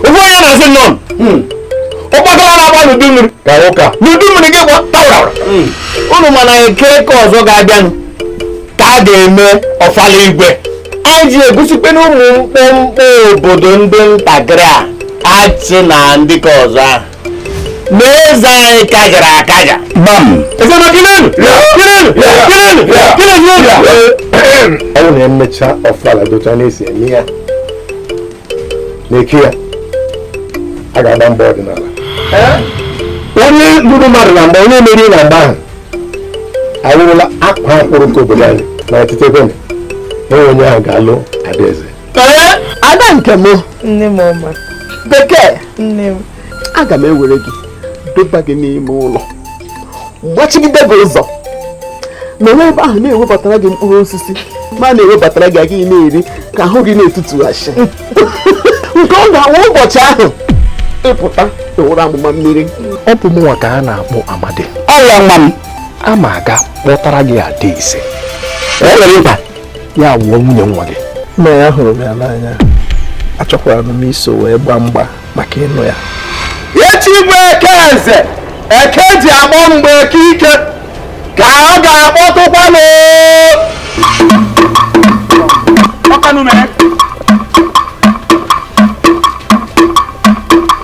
ụgwọ ya na-asị nọ hmm. ụgbakala na-agba n'udu mmiri n'udu mmiri gị gwa tawara hmm. unu ma na eke ke ọzọ ga-abịanụ ka a ga-eme ọfala igwe anyị ji egosikpe na ụmụ mkpọmkpọ obodo ndị ntakịrị a achị na ndị ke ọzọ ahụ n'eze anyị kajara akaja gbam ezenọ gịnịnụ n'obi a ọ bụrụ na emecha ọfala otu a na-esi eme ya n'eke ya a ga-agba mgba ọdịnala onye luru mmadụ na mgba onye meriri na mgba ahụ awụrụla akwaa akwụrụ nke obodo anyị na ọtụtụ ebe na onye onye ahụ ga-alụ adaeze ada nke m nne m ọma bekee nne m aga m ewere gị deba gị n'ime ụlọ gbachigide gị ụzọ nọrọ ebe ahụ na-ewebatara gị mkpụrụ osisi ma na-ewebatara gị ị ga na-eri ka ahụ gị na-etutughachi nke ọ ga-awụ ụbọchị ahụ ị pụta ị wụrụ amụma mmiri ọ bụ mụnwa ka a na-akpọ amadi ọla nwa m ama aga kpọtara gị adaeze ya wụọ nwunye nwa gị nna ahụrụ m ya n'anya achọkwara m iso wee gbaa mgba maka ịnụ ya echi bụ eke nze eke ji akpọ mgba eke ike ka ọ ga-akpọtụkwanụ ọkanụ mere